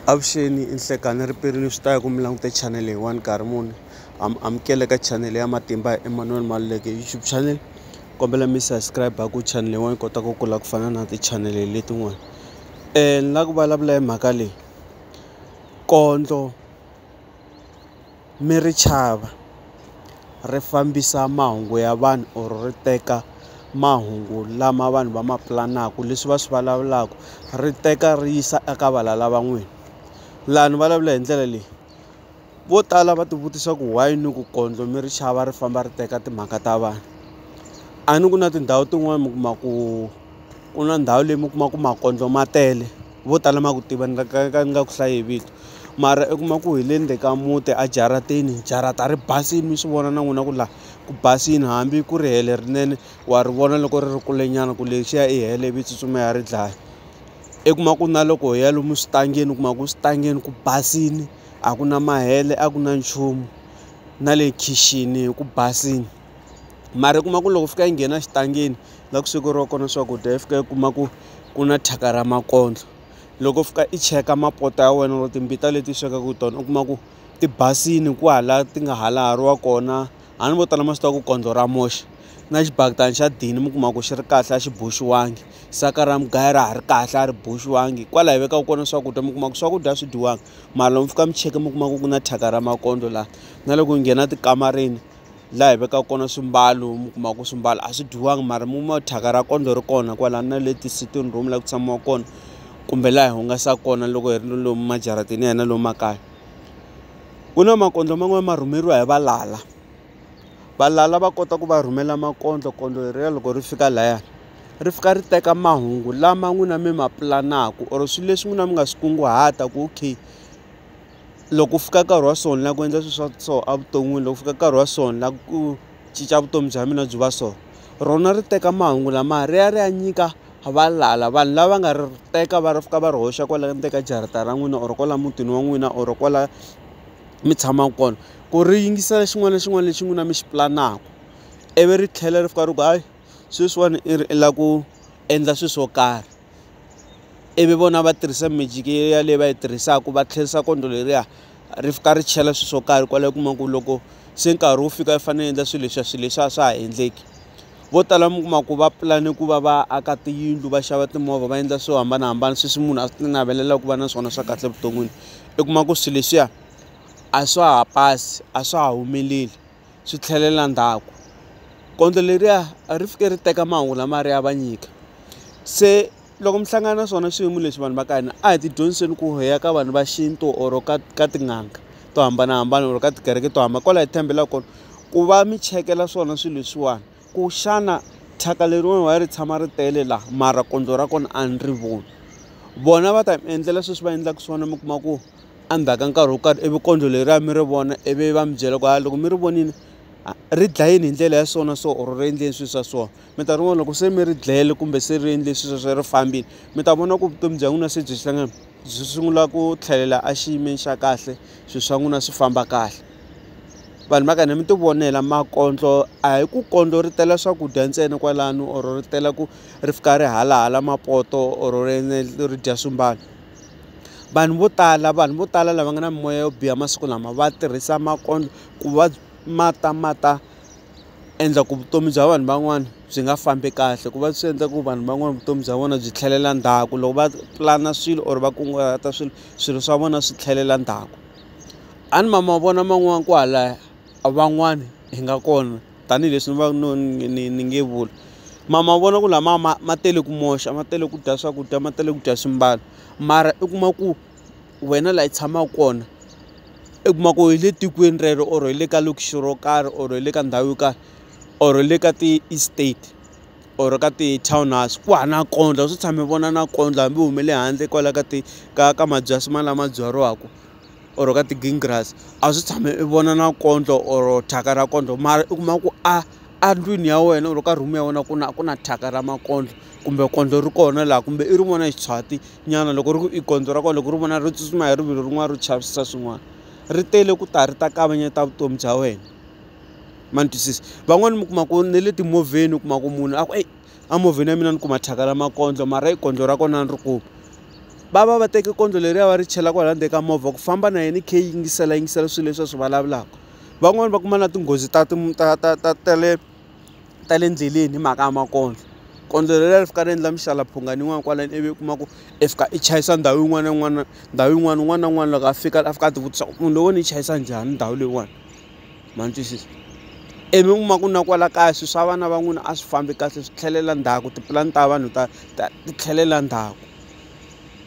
Avuxeni i nhlekani riperini swi ta ya ku mi langute channel hi one nkarhi muni am amukele ka channel ya matimba Emmanuel Maluleke YouTube channel kombela mi subscribe ku channel yin'wana yi kota ku kula ku fana na ti-channel letin'wana um ni la ku vulavula hi mhaka leyi kondlo mi ri chava ri fambisa mahungu ya vanhu or ri teka mahungu lama vanhu va ma pulanaka leswi va swi vulavulaka ri teka ri yisa eka valala va n'wina laha ni vulavula hi ndlela leyi vo tala va tivutisa ku why ni ku kondlo mi ri chava ri famba ri teka timhaka ta vanhu a ni ku na tindhawu tin'wani mi kuma ku ku na ndhawu leyi mi kuma ku makondlo ma tele. vo tala ma ku tiva ni nga ka ka ni nga ku hlayi hi vito mara i kuma ku hi le ndzeni ka muti a jaratini jarata ri basile mi swi vona na n'wina ku laha ku basile hambi ku ri helo lerinene wa ri vona loko ri ri kulenyana ku lexiya i helo ivi i tsutsuma i ya ri dlaya i kuma ku na loko hi ya lomu switangeni u kuma ku switangeni ku basile a ku na mahele a ku na nchumu na le khixini ku basile. mara u kuma ku loko fika yi nghena xitangeni la ku swekeriwa kona swakudya yi fika yi kuma ku ku na thyaka ra makondlo loko fika i cheka mapoto ya wena or timbita leti swekaka tona u kuma ku ti basile kwahala ti nga ha lahariwa kona a ni vo tala ma swi tiva ku kondlo ra moxa na xibaketani xa dini mi kuma ku xi ri kahle a xi boxiwangi saka ra mugayo ra ha ri kahle a ri boxiwangi kwala hi vekaka kona swakudya mi kuma ku swakudya a swi dyiwanga mara lomu mi fika mi cheka mi kuma ku ku na thyaka ra makondlo laha na loko yi nghena tikamareni. laha hi vekaka kona swimbalo mi kuma ku swimbalo a swi dyiwanga mara mi kuma thyaka ra kondlo ri kona kwala na le ti-sitting room la ku tshamiwa kona kumbe laha hi hungasaka kona loko hi ri ni lomu majarateni ya hina lomu makaya ku na makondlo man'wani ma rhumeriwa hi valala valala va kota ku va rhumela makondlo kondlo leriya loko ri fika laya ri fika ri teka mahungu lama n'wina mi ma pulanaku or swi leswi n'wina mi nga swi kunguhata ku okay. loko ku fika nkarhi wa so ni lava ku endla swilo swa so evuton'wini loko ku fika nkarhi wa so ni lava ku cinca vutomi bya mina byi va so rona ri teka mahungu lamaya ri ya ri ya nyika valala vanhu lava nga ri teka va ri fika va ri hoxa kwala ndzeni ka jarata ra n'wina or kwala mutini wa n'wina or kwala mi tshamaka kona ku ri yingisela xin'wana na xin'wana lexi n'wina mi xi pulanaka ivi ri tlhela ri fika ri ku hayi sweswiwani i ri i lava ku endla swilo swo karhi. ivi vona va tirhisa magic ya leyi va yi tirhisaka va tlherisa kondlo leriya ri fika ri chela swilo swo karhi kwalaho u kuma ku loko se nkarhi wu fika u fanele u endla swilo leswiya swilo leswiya swa ha endleki vo tala mi kuma ku va pulani ku va va aka tiyindlu va xava timovha va endla swo hambanahambana sweswi munhu a swi navelelaku ku va na swona swa kahle evuton'wini u kuma ku swilo leswiya a swa ha pasi a swa ha humeleli. swi tlhelela ndzhaku gondzo leriya a ri fike ri teka mahungu lama a ri ya va nyika se loko mi hlangana na swona swiyimo leswi vanhu va ka hina a hi ti dyondziseni ku hi ya ka vanhu va xintu or ka ka tin'anga to hambanahambana or ka tikereke to hambana kwala hi tshembelaka kona ku va mi chekela swona swilo leswiwani ku xana thyaka leriwani why ri tshama ri tele laha mara gondzo ra kona a ni ri voni vona va ta mi endlela sweswi va endlaka swona mi kuma ku. a ndzhaku ka nkarhi wo karhi ivi kondlo leriya mi ri vona ivi va mi byela ku ha loko mi ri vonile ri dlayini hi ndlela ya so na so or ri endleni swi swa so minkarhi yin'wani loko se mi ri dlayile kumbe se ri endle swi sweswo ri fambile mi ta vona ku vutomi bya n'wina se byi hlangana byi sungula ku tlhelela a xiyimeni xa kahle swi swa n'wina swi famba kahle vanhu va ka hina mi ti vonela makondlo a hi ku kondlo ri tela swakudya ntsena kwalano or ri tela ku ri fika ri halahala mapoto or ri dya swimbalo. vanhu vo tala vanhu vo tala lava nga na mimoya yo biha masiku lama va tirhisa makondlo ku va ma ta ma ta endla ku vutomi bya vanhu van'wana byi nga fambi kahle ku va swi endla ku vanhu van'wana vutomi bya vona byi tlhelela ndzhaku loko va pulana swilo or va kunguhata swilo swilo swa vona swi tlhelela ndzhaku a ni ma mavona man'wani kwalaya van'wani hi nga kona. tanihileswi ni va no ni ni ni nge vuli ma mavona ku lama ma ma tele ku moxa ma tele ku dya swakudya ma tele ku dya swimbalo mara u kuma ku wena laha u tshamaka kona u kuma ku hi le tikweni rero or hi le ka lokixi ro karhi or hi le ka ndhawu yo karhi or le ka ti-estate or ka ti-townhouse ku hava nampundzu a swi tshami vona nampundzu hambi u humele handle kwala ka ti ka ka mabyasi ma lama byariwaka. or ka ti-green grass a swi tshame i vona na kondlo or thyaka ra kondlo mara u kuma ku a a ndlwini ya wena or ka room ya wena ku na ku na thyaka ra makondlo kumbe kondlo ri kona laha kumbe i rin'wana ya xiswati nyana loko ri ku i kondlo ra kona loko ri vona ri tsutsuma hi rivilo rin'wana ro chavisa swin'wana ri tele ku ta ri ta kavanyeta vutomi bya wena ma ni twisisa van'wani mi kuma ku na le timovheni u kuma ku munhu a ku eyi. a movheni ya mina ni kuma thyaka ra makondlo mara i kondlo ra kona a ni ri kumi va va va teke kondlo leriya va ri chela kwala ndzeni ka movha ku famba na yena i khe yingisela yingisela swilo leswi a swi vulavulaka van'wani va kuma na tinghozi ta ti ta ta ta ta le ta le endleleni hi mhaka ya makondlo kondlo leriya ri fika ri endla mixaka mphungani yin'wana kwalano ivi u kuma ku i fika i chayisa ndhawu yin'wana na yin'wana ndhawu yin'wana un'wana na un'wana loko a fika a fika a ti vutisa ku munhu loyi wo ni chayisa njhani ndhawu leyiwani. ma ni twisisa ivi u kuma ku na kwala kaya swilo swa vana va n'wina a swi fambi kahle swi tlhelela ndzhaku tipulani ta vanhu ta ta ti tlhelela ndzhaku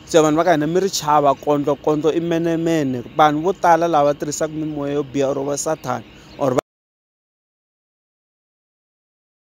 se vanhu va ka hina mi ri chava kondlokondlo i menemene vanhu vo tala lava tirhisaka mimoya yo biha or va sathana or va.